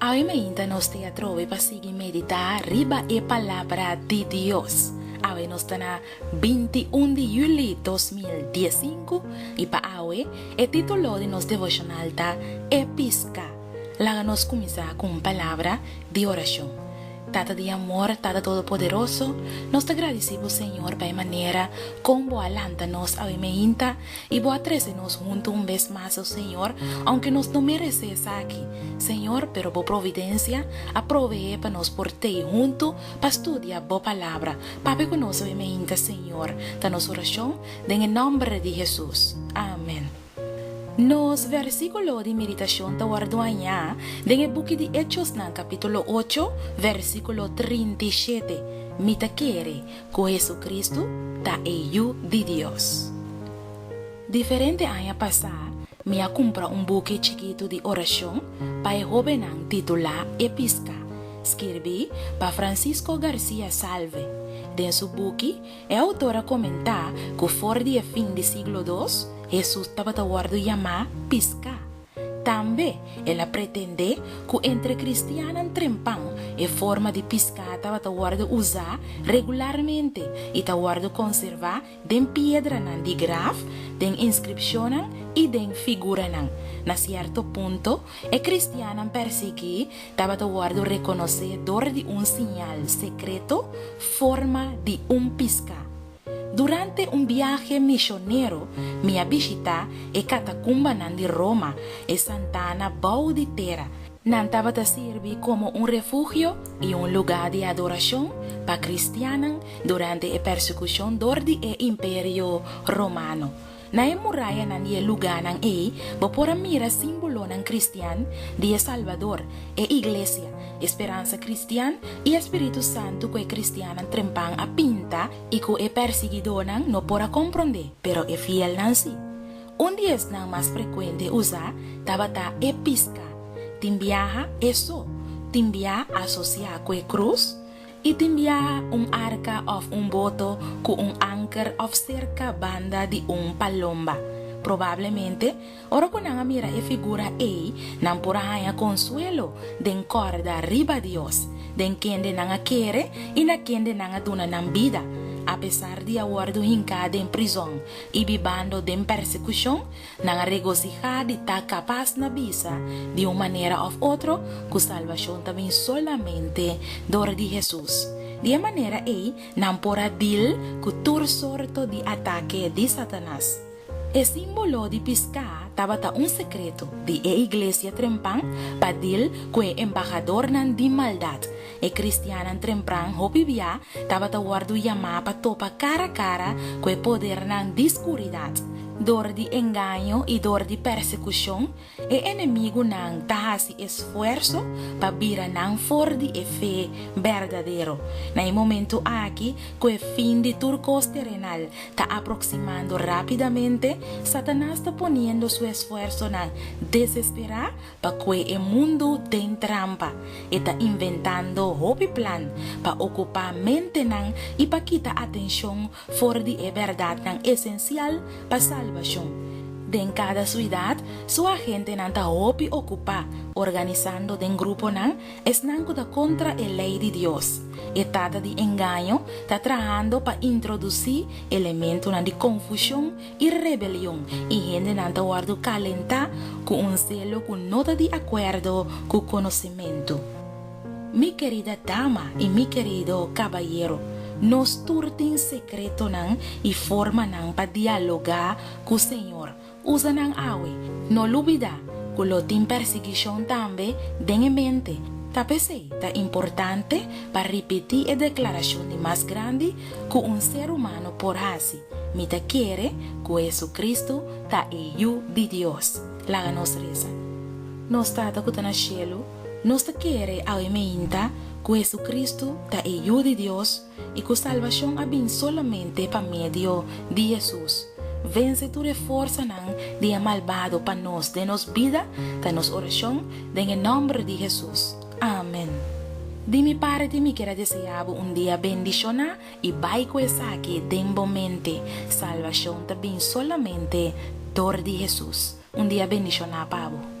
Awe mainta nos te atrobe pa sigui meditá riba e Palabra di Dios. Awe nos ta na binti un di Yuli dos mil dies sinku i pa awe e título di nos devoshonal ta E Piská. Laga nos kuminsá ku un palabra di orashon. Tata di amor, Tata Todopoderoso, nos ta gradisí Bo Señor pa e manera kon Bo a lanta nos awe mainta I bo a trese nos huntu un bes mas, O Señor, aunke nos no meresé esaki, Señor, pero bo providencia a proveé pa nos por tei huntu pa studia bo Palabra. Papia cu nos hoy meinta, Señor, ta nos oracion den e nomber di Jesús. Amen. Nos versiculo di meditacion ta wor duañá den e buki di Hechosnan capítulo ocho, versiculo trinta i shete, Mi ta kere, Ku Hesukristu ta e Yu di Dios. Diferente aña pasá mi a kumpra un buki chikitu di orashon pa e hóbennan titulá E Piská, skirbí pa Francisco García Salve. Den su buki, e outor a komentá ku for di e fin di siglo dos, Hesus tabata wòrdu yamá piská. Tambe el a pretendé ku entre kristiannan trempan e forma di piská tabata wòrdu usá regularmente i ta wòrdu konservá den piedranan di graf, den inskripshonnan i den figuranan. Na sierto punto, e kristiannan pèrsiguí tabata wòrdu rekonosé dor di un siñal sekreto forma di un piská. Durante un biahe misionero mi a bishitá e katacumbanan di Roma, e santana bou di tera. Nan tabata sirbi como un refugio i un lugá di adoracion pa cristiannan durante e persecucion dor di e Imperio Romano. Na e murayanan di e lugánan ei bo por a mira símbolonan kristian di e Salbador, e Iglesia, e speransa kristian i e spiritu santu ku e kristiannan trempan a pinta i ku e pèrsiguidónan no por a komprondé, pero e fielnan sí. Un di esnan mas frekuente usá tabata e piská. Tin biaha e so tin biaha asosiá ku e krus? I tin biaha un arka òf un boto ku un anker òf serka banda di un palomba. Probablemente, ora ku nan a mira e figura ei, nan por a haña konsuelo den kòrda riba Dios, den kende nan a kere i na kende nan a duna nan bida. Apesar di a wòrdu hinká den prizòn i bibando den persekushon, Nan a regosihá di ta kapas na bisa di un manera òf otro ku salbashon ta bin solamente dor di Hesus. Di e manera ei nan por a dil ku tur sorto di atake di Satanas. E símbolo di piská tabata un sekreto di e iglesia trempan pa dil ku e embahadornan di maldat. E kristiannan trempran hopi biá tabata wòrdu yamá pa topa kara a kara ku e podernan di skuridat. Dor di engaño i dor di persekushon, e enemigunan ta hasi esfuerso pa bira nan for di e fe berdadero. Na e momentu aki ku e fin di tur kos terenal ta aproksimando rápidamente, Satanas ta poniendo su esfuersonan desesperá Pacue e mundu den trampa, e ta inventando hopi plan pa ocupa mentenan y pa kita atencion for di e berdadnan esencial pa salbacion. Den cada suidad, su agentenan ta hopi ocupa organizando den gruponan esnan cu ta contra e ley di Dios. E tata di engaño ta trahando pa introduci elementonan di confusion i rebelion, i hendenan ta wòrdu kalentá ku un zelo ku no ta di akuerdo ku konosimentu. Mi kerida dama i mi kerido kabayero, nos tur tin sekretonan i formanan pa dialogá ku Señor. Usa nan awe. No lubidá ku lo tin persigishon tambe den e mente. Ta p'esei ta importante pa ripití e deklarashon di mas grandi ku un ser humano por hasi, mi ta kere ku Hesucristo ta e Yu di Dios. Laga nos resa. Nos Tata ku ta na shelu, nos ta kere awe meinta ku Hesucristo ta e Yu di Dios i ku salbashon a bin solamente pa medio di Hesus. Vense tur e forsanan di e malbado pa nos den nos bida ta nos orashon den e nòmber di Hesus. Amen. Di mi parti mi kier a desea bo un dia bendishoná i bai ku esaki den bo mente, Salbashon ta bin solamente dor di Hesus. Un dia bendishoná pa bo.